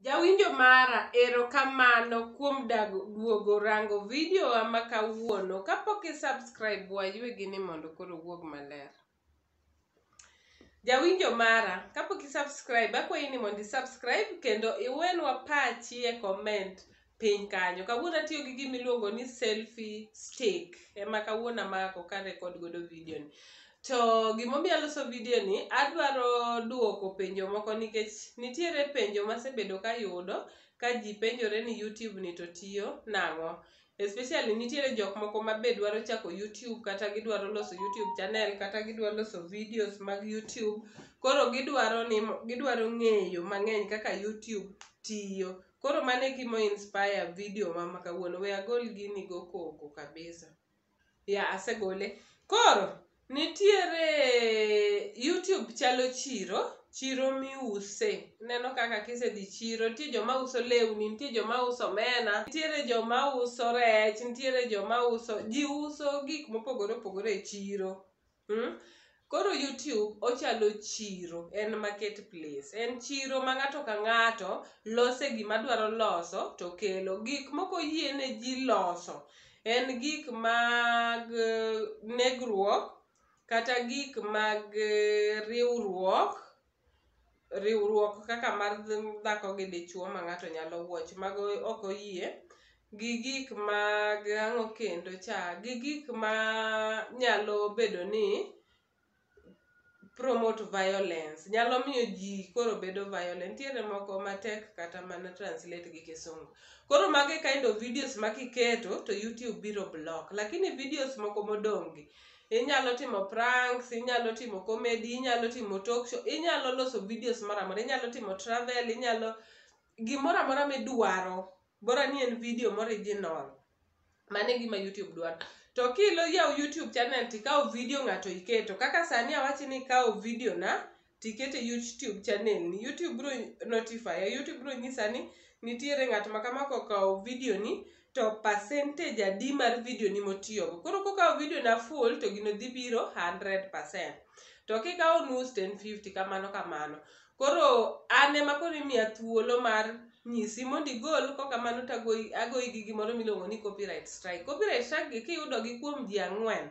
Jawinjo mara, ero kamano kuom dago duogo rango video wa ma kawuono. Kapok i subscribe wa ywe gini mondo koro owuog maler. Jawinjo mara, kapok i subscribe akwayi ni mondo i subscribe kendo iwenwa pachi e comment piny kanyo. Kawuono atiyo gi gima iluongo ni selfie stick ema kawuono amako ka record godo video ni. To gimomiyo aloso video ni, adwaro duoko penjo moko nikech nitiere penjo masebedo kayudo ka ji penjore ni YouTube ni to tiyo nang'o. Especially nitiere jok moko ma be dwaro chako YouTube kata gidwaro loso YouTube channel kata gidwaro loso videos mag YouTube. Koro gidwaro ni gidwaro ng'eyo mang'eny kaka YouTube tiyo. Koro mano e gima inspire video ma ma kawuono. We agol gini go koko kabisa. Ya asegole. Koro nitiere YouTube chalo chiro, chiro miuse. Ineno kaka kisedhi chiro, nitie joma uso lewni, nitie joma uso omena, nitiere joma uso rech, nitiere joma uso, ji uso gik mopogore opogore e chiro. Mm. Koro YouTube ochalo chiro, en market place. En chiro ma ng'ato ka ng'ato lose gima dwaro loso to kelo. Gik moko yiene ji loso en gik mag eh, negruok kata gik mag eh, riwruok riwruok kaka mar dhako gi dichwo ma ng'ato nyalo watch mago ok oyie gi gik mag ang'o kendo cha gi gik ma nyalo bedo ni promote violence nyalo miyo ji koro bedo violent. Nitiere moko matek kata mana translate gi kisungu. Koro mago e kind of videos ma kiketo to YouTube biro block. Lakini videos moko modong' gi inyalo timo pranks inyalo timo comedy inyalo timo talk show inyalo loso videos moro amora inyalo timo travel inyalo gimoro amora midwaro bora ni en video moriginal mano e gima youtube dwaro to kilo yaw youtube channel tikaw video ng'ato iketo kaka sani awachi ni ikaw video na tikete e youtube channel ni youtube biro notify youtube biro nyisa ni nitiere ng'at ma kama kokawo video ni to percentage adi mar video ni motiyogo koro kokawo video na full to gino dhi biro 100% to kikawo nus to en 50 kamano kamano koro an ema koro imiya thuolo mar nyisi mondo igol kokamano to agoyi gi gimoro miluongo ni copyright strike copyright strike gi kiyudogi kuom ji ang'wen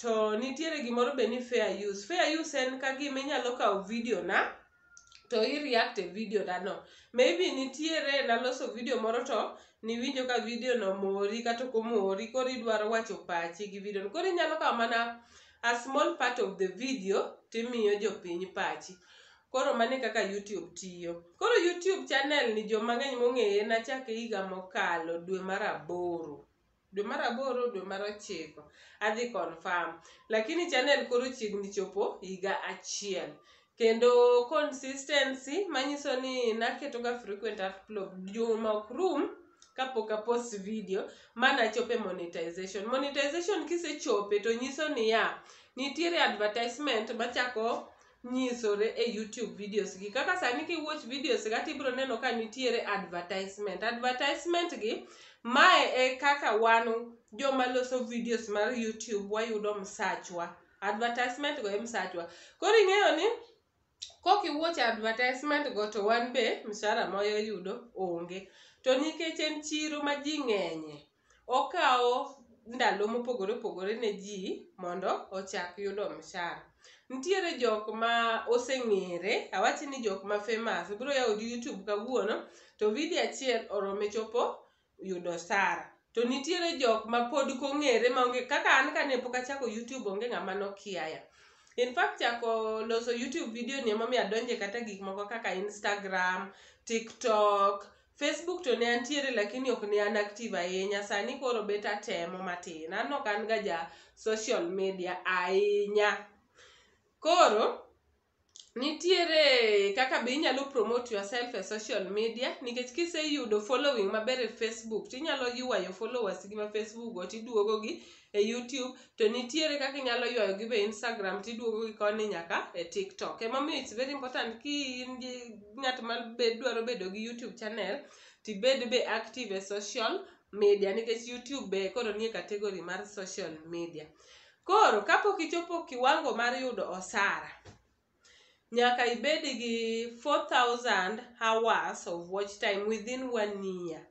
To nitiere gimoro be ni fair use. Fair use en ka gima inyalo kawo video na to i react e video na no. Maybe nitiere naloso video moro to niwinjo ka video no omori kata ok omori koro idwaro wacho pachi gi video no. Koro inyalo kawo mana a small part of the video timiyo jopiny pachi. Koro mano e kaka YouTube tiyo. Koro YouTube channel ni joma ng'eny mong'eye nachake higa mokalo dwe mar aboro. dwe mar aboro dwe mar ochiko adhi confirm lakini channel koro chiegni chopo higa achiel kendo consistency manyiso ni naketoga frequent upload juma ok rum kapok apost video manachope monetization monetization kisechope to nyiso niya nitiere advertisement machako nyisore e YouTube videos gi. Kaka sani ki watch videos ga to ibiro neno ka nitiere advertisement. Advertisement gi, mae e kaka wan joma loso videos mar YouTube wayudo msachwa. Advertisement go e msachwa. Koro ing'eyo ni, kok iwatch advertisement go to wan be mshahara ma wayudo onge. To nikech en chiro ma ji ng'enye, Okawo ndalo mopogore opogore ne ji mondo ochak yudo mshahara. Nitiere jok ma oseng'ere, awach ni jok ma famous, obiro yawo YouTube kawuono to video achiel orome chopo yudo osara. To nitiere jok ma pod kong'ere ma onge kaka an kane pok achako YouTube onge ng'ama nokiaya. In fact chako loso YouTube video ni emomiyo adonje kata gik moko kaka Instagram, TikTok, Facebook to ne antiere lakini ok ne an active ahinya, sani koro bet atemo matin. An ok an ga ja social media ahinya. Koro nitiere kaka be inyalo promote yourself e social media nikech kiseyudo following maber e Facebook tinyalo ywayo followers gi ma Facebook go tiduogo gi e YouTube to nitiere kaka inyalo ywayo gi be Instagram tiduogo gi koni nyaka e TikTok. Emomiyo it's very important ki in gi ng'at ma be dwaro bedo gi YouTube channel tibed be active e social media nikech YouTube be koro nie category mar social media. Koro kapok ichopo kiwango mar yudo osara, nyaka ibed gi 4000 hours of watch time within one year.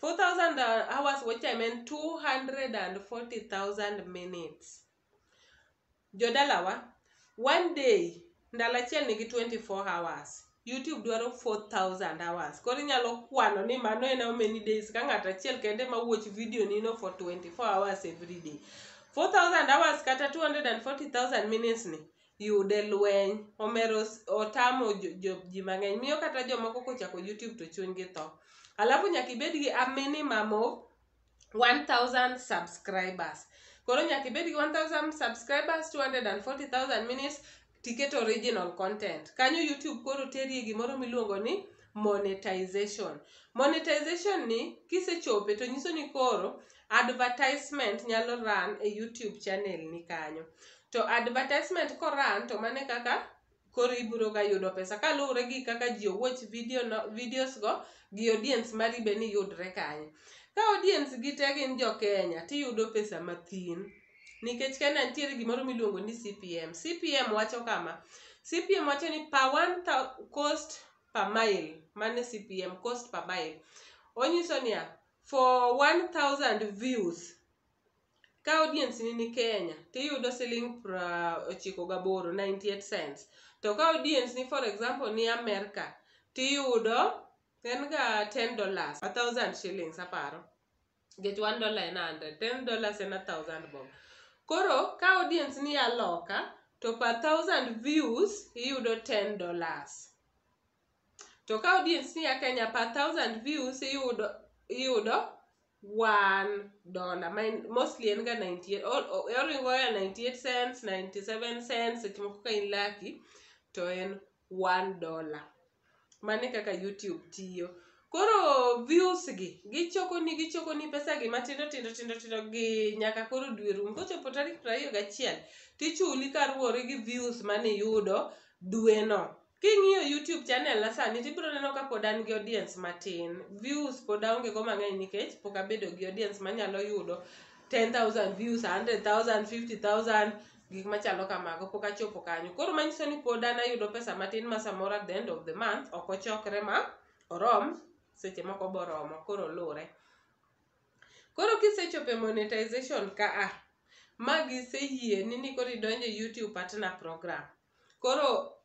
4000 hours watch time en 240000 minutes jodalawa one day ndalo achiel nigi 24 hours youtube dwaro 4000 hours koro inyalo kwano ni mano en how many days ka ng'ato achiel kende ma watch video nino for 24 hours every day 4000 hours kata 240000 minutes ni yude lweny omero s- otamo jo- jo- ji mang'eny miyo kata jomoko kochako youtube to chunygi tho alafu nyaka ibed gi a minimum of 1000 subscribers koro nyaka ibed gi 1000 subscribers 240000 minutes tiket original content kanyo youtube koro terie gimoro miluongo ni monetization. Monetization ni kisechope to nyiso ni koro advertisement nyalo run e YouTube channel ni kanyo. To advertisement ko run to mano e kaka koro ibiro ga yudo pesa kaluwore gi kaka ji owatch video no, videos go gi audience mari be ni yudre kanyo. Ka audience gi te gin jo Kenya tiyudo pesa mathin. nikech Kenya nitiere gimoro miluongo ni CPM. CPM wacho kama, CPM wacho ni per one cost per mile, mano e CPM, cost per mile. Onyiso niya, for 1000 views, ka audience ni ni Kenya, tiyudo siling pra ochiko gaboro, 98 cents. To ka audience ni for example ni Amerka, tiyudo en ga 10 dollars, 1000 shillings aparo. nikech one dollar en hundred ten dollars en a thousand bob koro ka audience ni aloka to per thousand views iyudo ten dollars to ka audience ni a kenya per thousand views iyudo iyudo one dollar Mine, mostly en ga 98 o- o- oringo ya 98 cents 97 cents seche moko ka in lucky to en one dollar. Mano e kaka Youtube tiyo. Koro views gi gichokoni gichokoni pesagi matindo tindo tindo tindo gi nyaka koro dwe rum. Kochopo tarik prariyo gachiel tichuli kaluwore gi views maniyudo dweno. King'iyo Youtube channel na sani tibiro neno ka pod an gi audience matin. Views pod aonge go mang'eny nikech pok abedo gi audience manyalo yudo ten thousand views, hundred thousand, fifty thousand. gik machalo kamago pok achopo kanyo koro manyiso ni pod an ayudo pesa matin ma samoro at the end of the month ok ochokre ma orom seche moko boromo koro luwre koro kisechopo e monetization ka a ma giseyieni ni koro idonjo e youtube partner program koro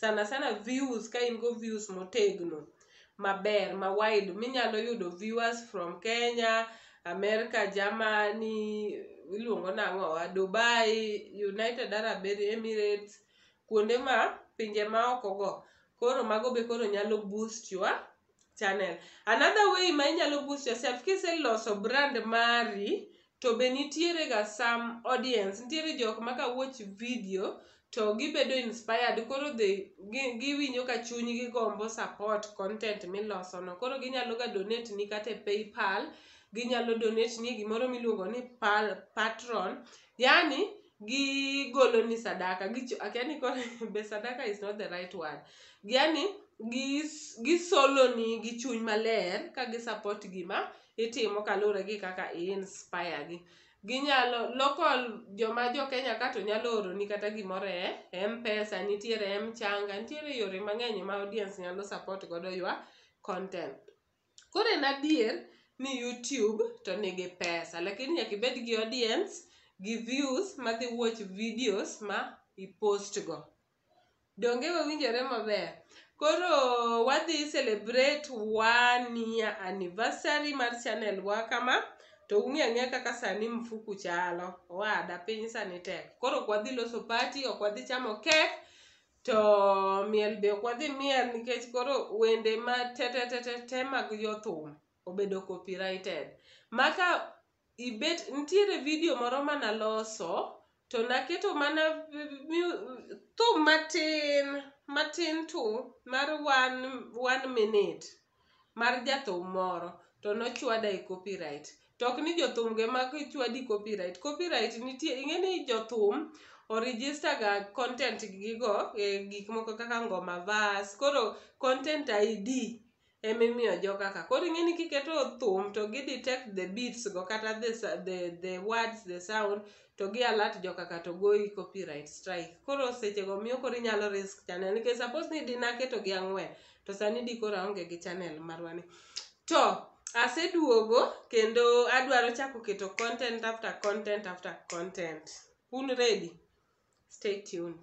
sana sana views ka in go views motegno maber ma wide minyalo yudo viewers from Kenya, America, Germany, iluongo nang'o wa Dubai, United Arab Emirates, kuonde ma pinje ma oko go. Koro mago be koro nyalo boost your channel another way ma inyalo boost yourself kiseloso brand mari to be nitiere ga some audience nitiere jok ma ka watch video to gibedo inspired koro they gi- giwinjo ka chunygi gombo support content miloso no koro ginyalo ga donate ni kata e paypal ginyalo donate ni e gimoro miluongo ni pal, patron Yaani gigoloni sadaka gicho akia ni koro be sadaka is not the right word. Yaani gis gisoloni gi chuny maler ka gi support gima itimo kaluwore gi kaka i inspire gi. Ginyalo local joma jo Kenya ka to nyalo oroni kata gimoro e Mpesa, nitiere mchanga, nitiere yore mang'eny ma audience nyalo support godo your content Koro en adier ni YouTube to nigi pesa lakini nyaka ibed gi audience gi views madhi watch videos ma i post go. Donge wawinjore maber? Koro wadhi celebrate one year anniversary mar channel wa kama to ung'e ang'e kaka sani mfuku chalo. Owada piny sani tek. Koro ok wadhi loso party, ok wadhi chamo cake, To miel be ok wadhi miel nikech koro wende ma tetetetete mag jothum obedo copyrighted. Maka ibet nitiere video moro mana loso to naketo mana thum matin matin tu mar one, one minute mar jathum moro to nochwada e copyright. To ok ni jothum go ema chwadi copyright. Copyright nitie, ing'e ni jothum o register ga content gi go e gik moko kaka Ngoma Bas. Koro content ID ema imiyo joga ka. Koro ing'e ni kiketo thum to gi detect the beats go kata the the the words, the sound to gi alert joka ka to goyi copyright strike. Koro seche go miyo koro inyalo risk channel nikech suppose ni di naketo gi ang'wen to sani di koro aonge gi channel marwa ni to aseduogo kendo adwaro chako keto content after content after content un ready stay tuned